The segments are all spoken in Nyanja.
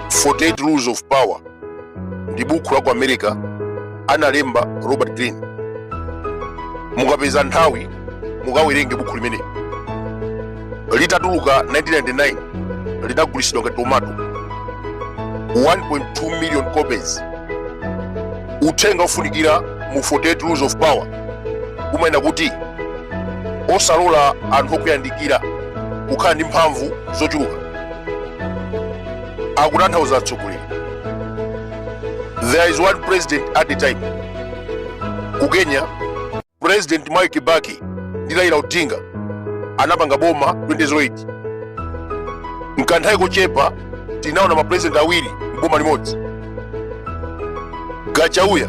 48 Rules of Power ndi bukhu la ku America analemba Robert Greene. Mukapeza nthawi mukawerenge bukhu limeneli. Litatuluka 1999 linagulitsidwa ngati tomato 1.2 million copies. Uthenga ofunikira mu 48 Rules of Power umanena kuti osalola anthu okuyandikira kukhala ndi mphamvu zochuluka akutanthauza atsogoleri there is one president at a time ku kenya president mwai kibaki ndi raila odinga anapanga boma 2008 mkanthawi kochepa tinaona mapresident awiri mboma limodzi gachauya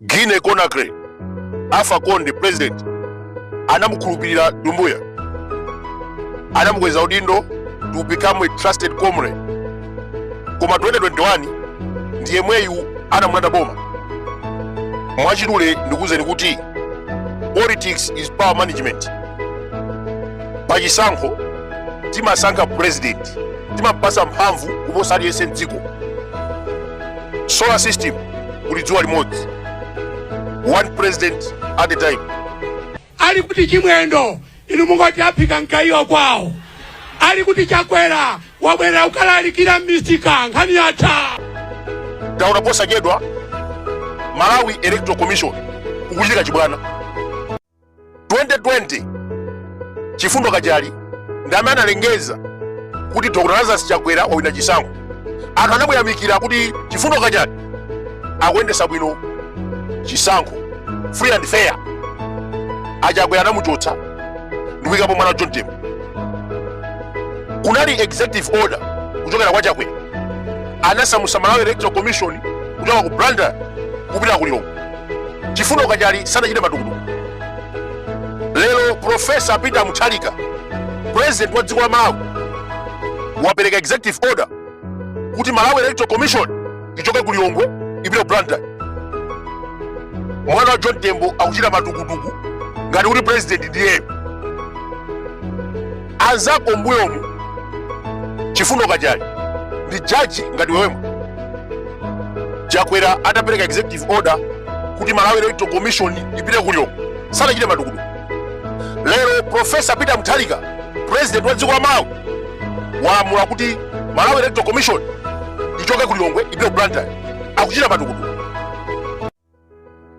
Guinea Conakry, Alpha Conde president anamukhulupirira Dumbuya, anamukweza udindo to become a trusted comrade. Koma 2021 ndi yemweyu anamulanda boma. Mwachidule ndikuwuzeni kuti politics is power management. Pa chisankho timasankha president, timapasa mphamvu kuposa aliyense mdziko. solar system kuli dzuwa limodzi one president at a time ali kuti chimwendo inu mungoti aphika mkaiwa kwawo ali kuti chakwera wabwerera kukalalikira mmisika nkhani yatha taona posachedwa malawi electoral commission kukuchitika chibwana 2020 chifundo kachali ndi amene analengeza kuti dr lazarus chakwera wawina chisankho anthu anamuyamikira kuti chifundo kachali akuyendesa bwino chisankho free and fair achakwera anamuchotsa ndikuyikapo mwana wa john tembo kunali executive order kuchokera kwa chakwera anasamusa malawi electoral commission kuchoka ku blantyre kupita ku lilongwe chifundo kachali sanachite matukutuku lero profesa peter mutharika president wa dziko la malawi wapereka executive order kuti malawi electoral commission ichoke ku lilongwe ipite ku blantyre mwana wa john tembo akuchita matukutuku ngati kuti president ndiyeyo anzako mbuyomu chifundo kachali ndi jaji ngati iweyo chakwera atapereka executive order kuti malawi electoral commission ipite ku lilongwe sanachite matukutuku lero profesa peter mutharika president wa dziko la malawi walamula kuti malawi electoral commission ichoke ku lilongwe ipite ku blantyre akuchita matukutuku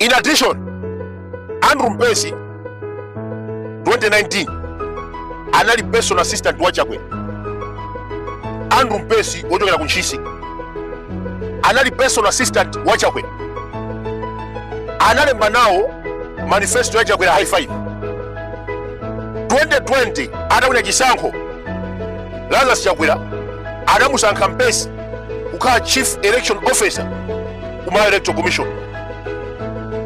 In addition, Andrew Mpesi 2019 anali personal assistant wa Chakwera. Andrew Mpesi wochokera ku Ntchisi anali personal assistant wa Chakwera, analemba nawo manifesto ya Chakwera high five. 2020 atawina chisankho Lazarus Chakwera anamusankha Mpesi kukhala chief election officer ku malawi electoral commission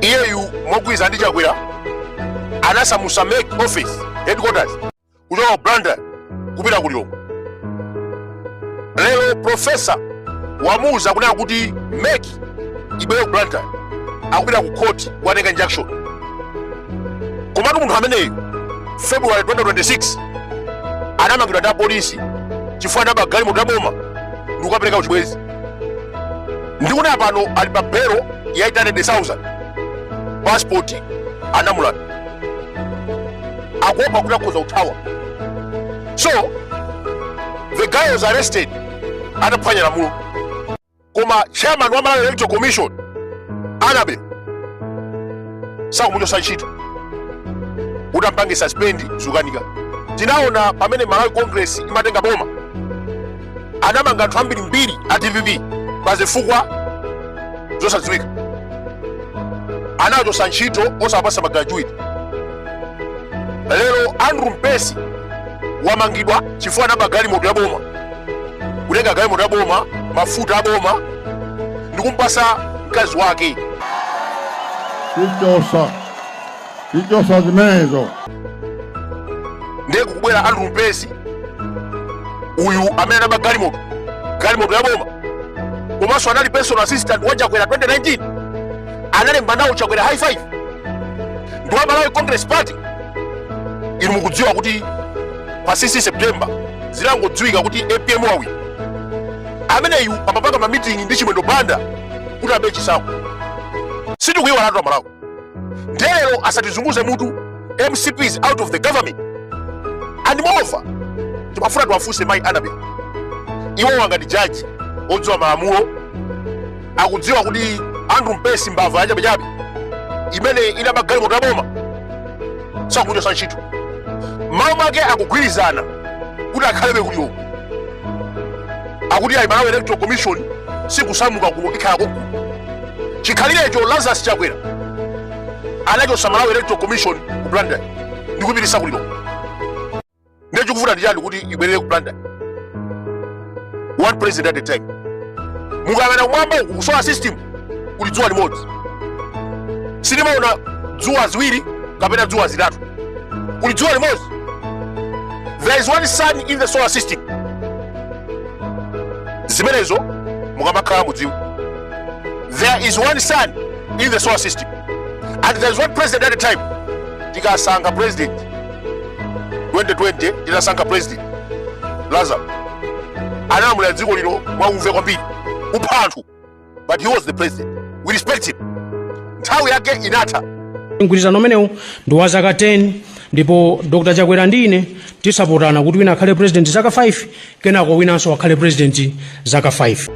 iyeyu mogwirizana ndi chakwera anasamusa MEC office headquarters kuchoka ku blantyre kupita ku lilongwe lero profesa wamuuza kunena kuti MEC ibwere ku blantyre akupita ku court kukatenga injunction komatu munthu ameneyu february 2026 anamangidwa ndi apolisi chifukwa anaba galimoto ya boma ndi kukapereka kuchibwenzi ndikunena pano ali pa belo ya 800,000 passport anamulanda akuopa kuti akhoza kuthawa so the guy was arrested ataphwanya lamulo koma chairman wa malawi electoral commission Annabel sakumuchotsa ntchito kuti ampange suspend zukanika tinaona pamene malawi congress imatenga boma anamanga anthu ambirimbiri a dpp pa zifukwa zosadziwika anawachotsa ntchito osawapasa magratuity lero andrew mpesi wamangidwa chifukwa anaba galimoto ya boma kutenga galimoto yaboma mafuta aboma ndikumpasa mkazi wake tichotsa tichotsa zimenezo ndiye kukubwera andrew mpesi uyu amene anaba galimoto galimoto yaboma komanso anali personal assistant wa chakwera 2019 analemba nawo chakwera high five ndi wa malawi congress party inu mukudziwa kuti pa 6 september zitangodziwika kuti APM wawina ameneyu amapanga mamitingi ndi chimwendo banda kuti abe chisankho sitikuyiwalatu amalawi nde lero asatizunguze mutu mcp is out of the government and moreover timafuna tiwafunse mayi Annabel iwowo ngati jaji odziwa malamulo akudziwa kuti andrew mpesi mbava yachabechabe imene inaba galimoto ya boma sakumuchotsa ntchito m'malo mwake akugwirizana kuti akhalebe ku Lilongwe akuti ayi malawi electoral commission sikusamuka kuno ikhale konkuno chikhalirecho lazarus chakwera anachotsa malawi electoral commission ku blantyre ndikupitisa ku Lilongwe ndiye chikuvuta ndichani kuti ibwerere ku Blantyre one president at a time mukayang'ana kumwamba uku ku solar system kuli dzuwa limodzi sitimaona dzuwa ziwiri kapena dzuwa zitatu kuli dzuwa limodzi there is one sun in the solar system zimenezo mukanakhala mukudziwa there is one sun in the solar system and there is one president at a time tikasankha president 2020 tinasankha president lazarus analamulira dziko lino mwauve kwambiri kupha anthu but he was the president we respect him nthawi yake inatha mgwirizano umenewu ndi wa zaka 10 ndipo dr chakwera ndi ine tigwapotana kuti wina akhale president zaka 5 Kenako winanso akhale president zaka 5.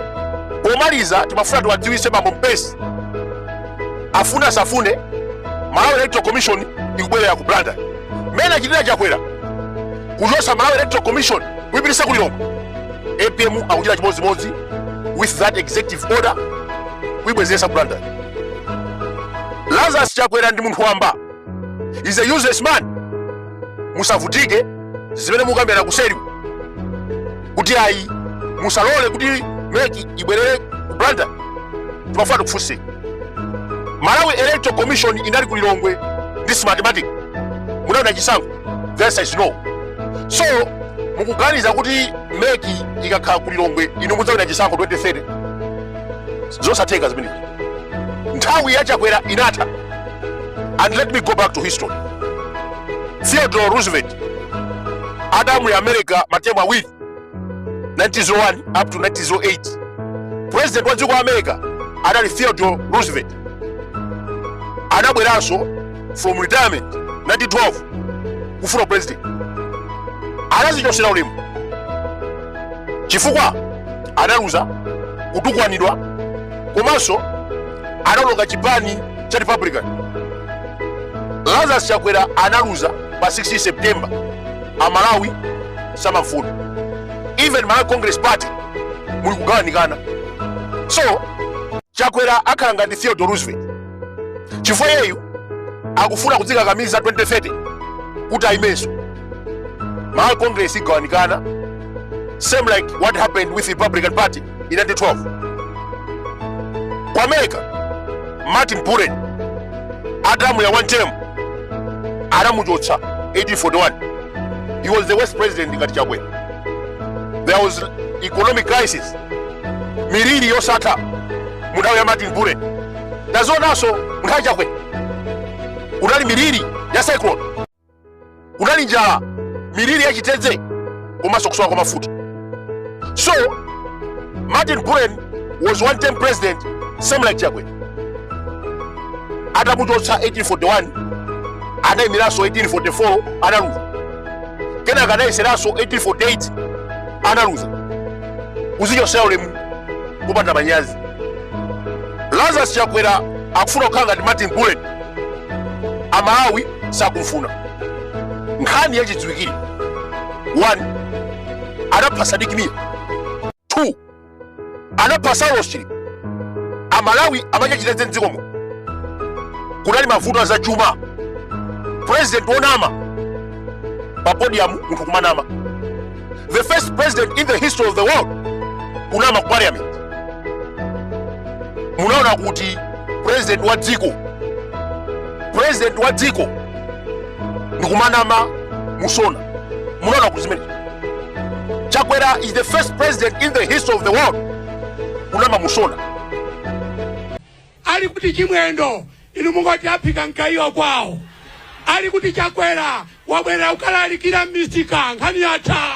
Pomaliza timafuna tiwadziwitse bambo Mpesi afune asafune Malawi Electoral Commission ikubwerera ku Blantyre mmene achitira Chakwera kuchotsa Malawi Electoral Commission kuipititsa ku Lilongwe. APM akuchita chimodzimodzi with that executive order kuibwezeretsa ku Blantyre. Lazarus Chakwera ndi munthu wamba. is a useless man musavutike zimene mukukambirana kuseri kuti ayi musalole kuti meki ibwerere ku Blantyre timafuna tikufunseni malawi electoral commission inali ku lilongwe ndi smartmatic munawina chisankho the answer is no so mukuganiza kuti meki ikakhala ku lilongwe inu mudzawina chisankho 2030 zosatheka zimenezo nthawi ya chakwera inatha and let me go back to history theodore roosevelt adalamulira america matemu awiri 1901 up to 1908 president wa dziko la america adali theodore roosevelt adabweranso from retirement 1912 kufuna upresident anadzichotsera ulemu chifukwa analuza kutukwanidwa komanso anawononga chipani cha republican lazarus chakwera analuza pa 16 september amalawi samamufuna even malawi congress party mukugawanikana so chakwera akhala ngati theodore roosevelt chifukwa iyeyu akufuna kudzikakamiza 2030 kuti ayimenso malawi congress igawanikana same like what happened with republican party in 1912 ku america martin buren adalamulira one term anamuchotsa 1841 he was the worst president ngati chakwera there was economic crisis miliri yosatha mu nthawi ya martin buren tazionanso nthawi ya chakwera kunali miliri ya cyclone kunali njala miliri ya chitedze komanso kusowa kwa mafuta so martin buren was one term president same like chakwera atamuchotsa 1841 anayimiranso 1844 analuza kenaka anayeseranso 1848 analuza kuzichosera ulemu kupanda manyazi lazarus chakwera akufuna kukhala ngati martin buren amalawi sakumfuna nkhani yachidziwikire 1 anapha sadiki mia 2 anapha saulos chilima amalawi amachachitedze mdzikomo kunali mavuto a zachuma purezidenti wonama pa podiyamu munthu kumanama the first president in the history of the world kunama ku parliament munaona kuti president wa dziko president wa dziko ndikumanama musona munaona kuti zimenezo chakwera is the first president in the history of the world kunama musona Ali kuti chimwendo inu mungoti aphika mgaiwa kwawo ali kuti chakwera wabwerera kukalalikira m'misika nkhani yatha